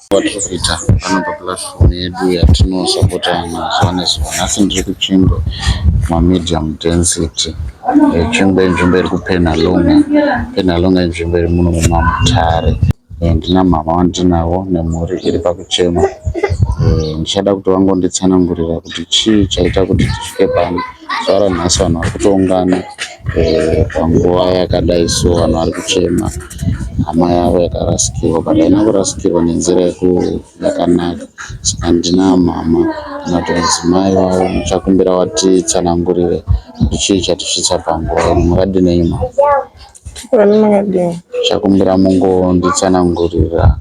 Vaporofita pano papulatifomu yedu yatinosapota mazuva nezuva. Nhasi ndiri kuChingwe mumamedium density. Eh, Chingwe inzvimbo iri kuPenhalonga. Penhalonga inzvimbo iri muno mumaMutare. Eh, Ndina mama wandinavo nemhuri iri pakuchema. Eh, Ndichada kuti vangonditsanangurira kuti chii chaita kuti tisvike pano. Zuva ranhasi vanhu vari kutoungana. eh, panguva yakadai so vanhu vari kuchema hama yavo yakarasikirwa but haina kurasikirwa nenzira yakanaka saka ndina mhama kana kuti mudzimai wavo muchakumbira watitsanangurire kuti chii chatisvitsa panguva ino makadinei mhama chakumbira mungonditsanangurira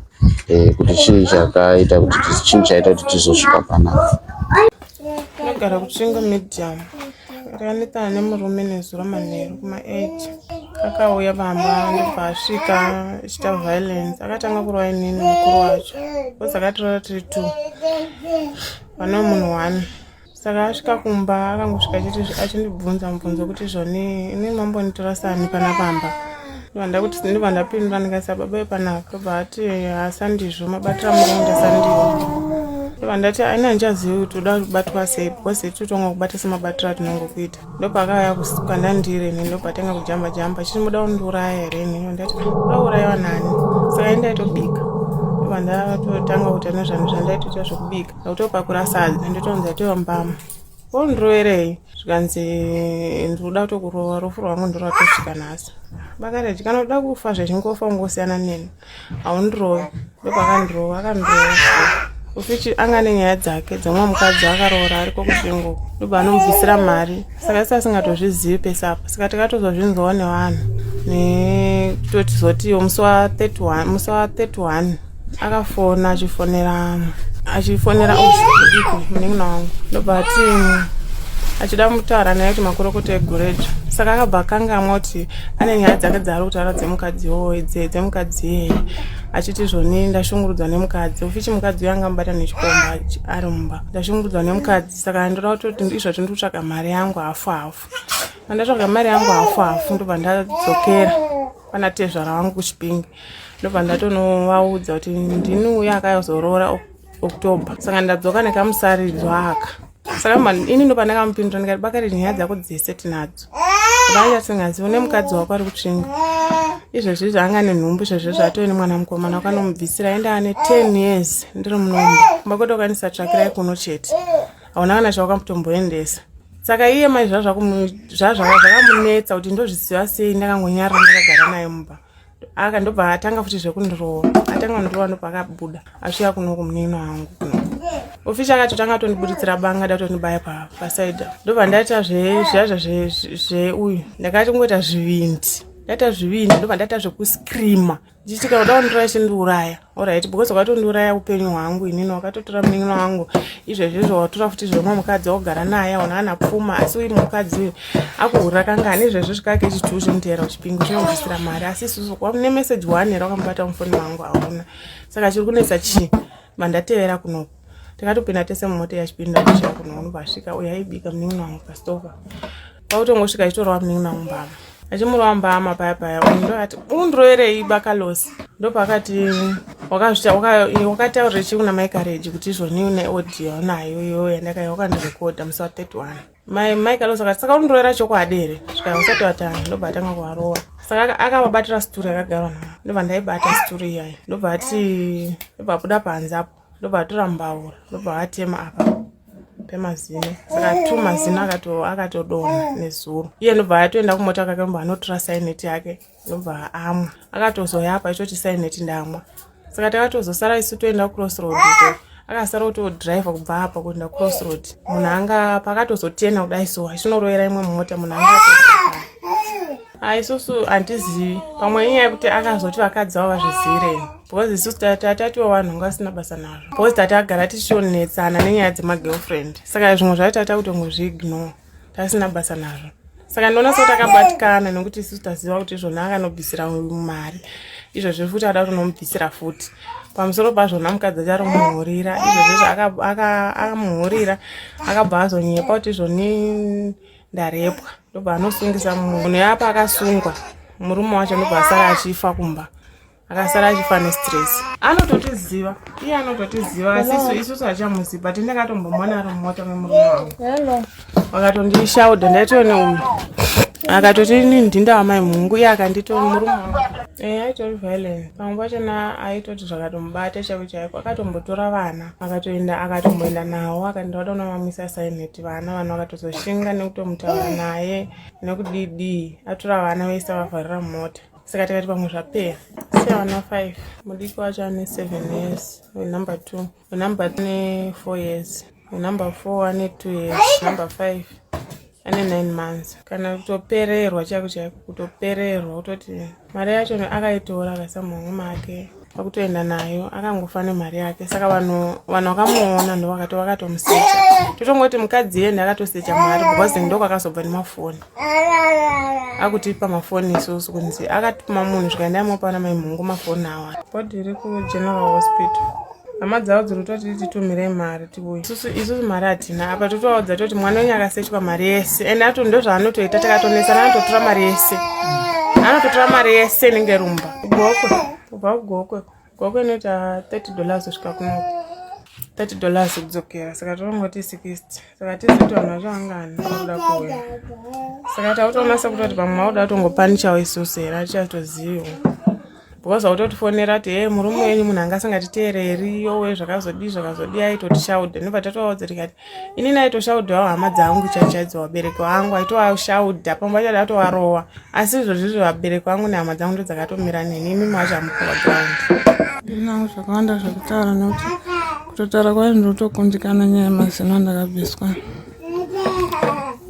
eh, kuti chii chakaita kuti chii chaita kuti tizosvika panapa Ndinogara kuchinga medium. Ndakanditana nemurume nezuro manheru kuma 8. Akauya pamba ndobva asvika achita violence. Akatanga kurova inini mukuru wacho. Bhozi akatirora tiri two. Pane munhu one. Saka asvika kumba akangosvika achindibvunza mubvunzo kuti zvoni ini mambonitora sani pana pamba. vanda kuti sini vanda pindura ndikasa baba panaka but asandizvo mabatira muenda sandiwo vandati aina ndichazivi kuti uda kubatwa sei because totanga kubata semabatiro atinongo kuita ndopakaya kukanda ndiri ini ndopatanga kujamba jamba chiti muda kundiuraya here ini vandati uda uraiwa nani saka indaitobika vandatotanga kuita nezvanhu zvandaitoita zvekubika akutopakurasa adzi ndotonzi atowa mbama ondiroverei zvikanzi ndikuda kutokurova rufu rwangu ndiro atosvika nhasi vakareti kana uda kufa zvechingofa ungosiyana neni haundirove ndopakandirova akandirova ufichi anga ane nyaya dzake dzamwe mukadzi akaroora ariko kusvingo ndobva anomubvisira mari saka isi asingatozvizivi pese apa saka tikatozozvinzwawo nevanhu netotizotiwo musi wa 31 akafona achifonera achifonera usiku munin'ina wangu ndobva ati achida mutaura naye kuti makorokota egorejo saka akabva akangamwa kuti ane nyaya dzake dzaari kutaura dzemukadzi woye dzemukadzi yeye achiti zvoni ndashungurudzwa nemukadzi ufichi mukadzi uyo anga mubata nechikomba ari mumba ndashungurudzwa nemukadzi saka ndoda kutoti izvo tindi kutsvaga mari yangu hafu hafu andatsvaga mari yangu hafu hafu ndobva ndadzokera pana tezvara wangu kuchipingi ndobva ndatonovaudza kuti ndini uye akazoroora october saka ndadzoka nekamusaridzo aka saka ini ndo pandakamupindura ndikati bakari nyaya dzako dzese tinadzo vanga tisingazivi une mukadzi wako ari kutsvinga izvezvi zvaanga nenhumbu izvezvi zvatove nemwana mukomana wakanomubvisira aenda ane ten years ndiri munomba kumba kwetokwanisa tsvakirai kuno chete hauna kana chawakamutomboendesa saka iye mai zvazvakamunetsa kuti ndozviziva sei ndakangonyarira ndakagara naye mumba aka ndobva atanga futi zvekundirova atanga kundirova ndobva akabuda asvika kuno kumunino wangu kuno ofishi akatotanga atondibuditsira banga da kutondibaya pasaida ndobva ndaita zvezviazva zveuyu ndakati kungoita zvivindi ndaita zvivindi ndobva ndaita zvekuscreama ndichitika kuda kundirova chindiuraya Alright, because wakatondiuraya upenyu hwangu inini wakatotora munin'ina wangu izvezvi izvo watora futi zvemwe mukadzi waugara naye aona ana pfuma asi uyu mukadzi uyu akuhurira kangani izvezvi svikake chituhu zvinoteera uchipingu chinobvisira mari asi isusu ne message waanera wakamubata mufoni wangu hauna saka chiri kunetsa chii mandatevera kunoku takatopinda tese mumota yachipinda kuchira kunoonobasvika uyaibika munin'ina wangu pastoka kwakutongosvika achitorova munin'ina mumbama achimurova mbama paya paya ndoati undiroverei bakalosi ndopaakati wakataurira chii kuna mai kareji kuti izvoni une audio unayo iyoyo yandakaiva wakandirekodha musi wa 31 mai mai kalosi akati saka undirovera chokwadi here svika usati watanga ndobva atanga kuvarova saka akavabatira situri akagarwa navo ndobva ndaibata situri iyayi ndobva ati ndobva abuda panze apo ndobva atora mbaura ndobva atema apa pemazino saka two mazino akatodonha nezuro iye ndobva atoenda kumota kake ndobva anotora saineti yake ndobva amwa akatozoya apa itoti saineti ndamwa saka takatozosara isu toenda kucross road ko akasara kutodrive kubva apa kuenda cross road munhu anga pakatozotena kudai so achinorowera imwe mumota munhu anga Ah, isusu handizivi pamwe inyaya yekuti akazoti vakadzi vavo vazvizirei because isusu tatatiwo vanhu nga vasina basa nazvo because tatagara tichionetsana nenyaya dzemagirlfriend saka zvimwe zvayo tata kutongozviignore tasina basa nazvo saka ndinoona so takabatikana nekuti isusu taziva kuti izvona akanobvisira mari izvozvo futi ada kutonomubvisira futi pamusoro pazvona mukadzi acharomuhurira izvozvo zvakamuhurira akabva azonyepa kuti izvoni ndarepwa ndobva anosungisa munhu yapa akasungwa murume wacho ndobva asara achifa kumba akasara achifa nestress anototiziva iye anototiziva asisu isusu hachamuzivi but ndakatombomona ari mumota memurume wangu akatondishauda ndaitoone uyu akatoti ini ndinda wamai mhungu iye akandito murume wangu e aitori violence pamwe pachona aitoti zvakatomubata chavo chaiko akatombotora vana akatoenda akatomboenda nawo akaenda wadaona vamwisa saineti vana vana vakatozoshinga nekutomutaura naye nekudidii atora vana vaisa vavharira mumota saka tikati pamwe zvapeya sevana five mudiki wacho ane seven years wenumber two wenumber two ne four years wenumber four ane two years number five ane 9 months kana kutopererwa chaiko chaiko kutopererwa kutoti mari yacho akaitora akaisa muhomwe make akutoenda nayo akangofa nemari yake saka vanhu vanhu vakamuona ndovakati vakatomusecha totongoti mukadzi yende akatosecha mari because ndoko akazobva nemafoni akutipa mafoni isusu kunzi akatuma munhu zvikaenda imopa ana maimhungu mafoni awa body iri kugeneral hospital hama dzavo dziri kutoti titumire mari tiuye isusu isusu mari hatina apa totovaudza toti mwana wenyu akasechwa mari yese ende ato ndo zvaanotoita takatonesana anototora mari yese anototora mari yese inenge rumba gokwe kubva kugokwe gokwe inoita 30 dollars kusvika kunoku 30 dollars kudzokera saka tonongoti 60 saka tizitoona zvangani akuda kuuya saka tautoona sekutoti pamwe mauda kutongopanishawo isusu here atichatoziviwo because autotifonera kuti hee murume wenyu munhu anga asingatiteereri yowe zvakazodii zvakazodii aitotishaudha nobva tatovaudzatika kuti inini aitoshaudhawo hama dzangu chachaidzo vabereki vangu aitowashaudha pamwe vachada atovarowa asi izvozvizvi vabereki vangu nehama dzangu ndo dzakatomira neni imimi wachamukuva gaundi ndinavo zvakawanda zvekutaura nokuti kutotara kwayo ndinotokundikana nyaya yemazino andakabviswa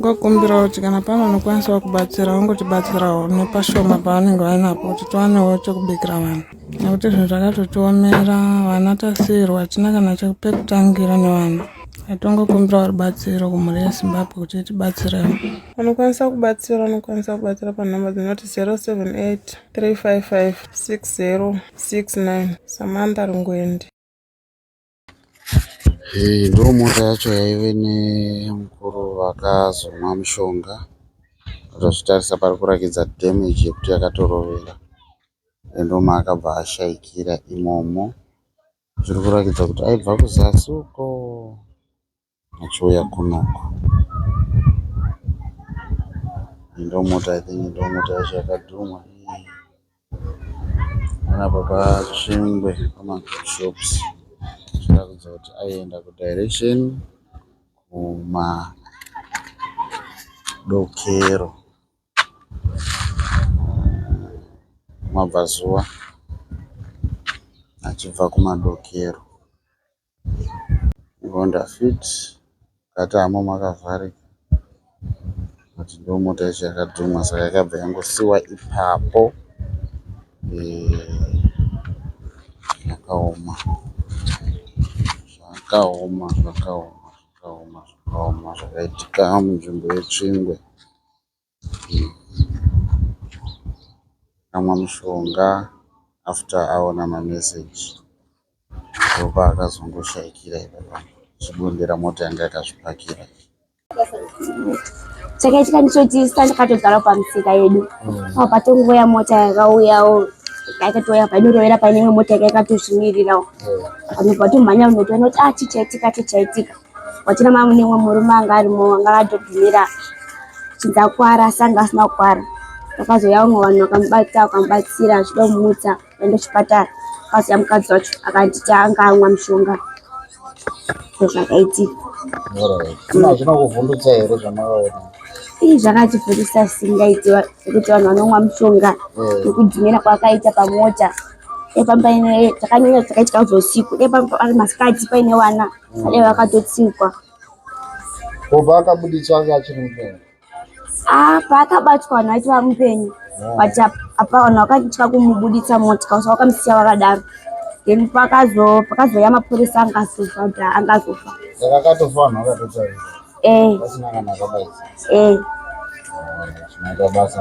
ngokumbira kuti kana pano unokwanisa kubatsira wongotibatsirawo nepashoma pavanenge vainapo kuti tiwanewo chekubikira vanhu nekuti zvinhu zvakatotiomera vana tasiyirwa hatina kana chekupekutangira nevanhu atongokumbirawo rubatsiro kumhuri yezimbabwe kuti itibatsirewo unokwanisa kubatsira unokwanisa kubatsira panhamba dzinoti 078 355 6069 samantha rungwendi Iyi ndomota yacho yaive nemukuru vakazomwa mushonga tazvitarisa pari kurakidza damage yekuti yakatorovera ende ndomaakabva ashaikira imomo zviri kuratidza kuti aibva kuzasi uko. Achiuya kuno uko. Iyi ndomota i think ndomota yacho yakadhumha iyi. Panapa patsvingwe pama shops zvichiratidza kuti aienda ku direction kuma dokero kumabvazuva achibva kumadokero. Honda fit yakatama makavharika but ndomota yacho yakadhuma saka yakabva yangosiiwa ipapo zvakaoma zvakaoma zvakaoma zvakaoma zvakaitika munzvimbo yetsvingwe. Akamwa mushonga after aona mameseji ndopaakazongoshaikira ipapo achibondera mota yanga yakazvipakira iyi. chakaitika ndicho chisa ndakatogara pamisika yedu mm. apa patongoya mota yakauyawo yakatouya painorovera paine imwe mota yaka yakatozvimirirawo mm. panobva tomhanya unotoona kuti ah chichaitika chichaitika wachina mama mune umwe murume anga arimo anga akatogumira chinzi akwara asi anga asina kukwara vakazouya vamwe vanhu vakamubata vakamubatsira achida kumutsa aenda chipatara akazouya mukadzi wacho akanditi anga amwa mushonga zvakaitika zvinokuvhundutsa here zvamaona ii zvakativhundisa zvisingaitiwa zvekuti vanhu vanomwa mushonga eh. nekudhumira kwakaita pamota epamba ine takanyanya takaitika usiku epamba ari masikati paine vana Ane vakatotsikwa. Ko paakabuditswa anga achiri mupenyu? Ah, paakabatwa vanhu vaiti vamupenyu. Ah. But apa vanhu vakatya kumubuditsa motya so vakamusiya vakadaro. Then pakazo pakazoya mapurisa anga azofa kuti anga azofa. Saka akatofa vanhu vakatotarisa. Eh. Pasina kana akabaisa. Eh. Ah, Zvinoita basa.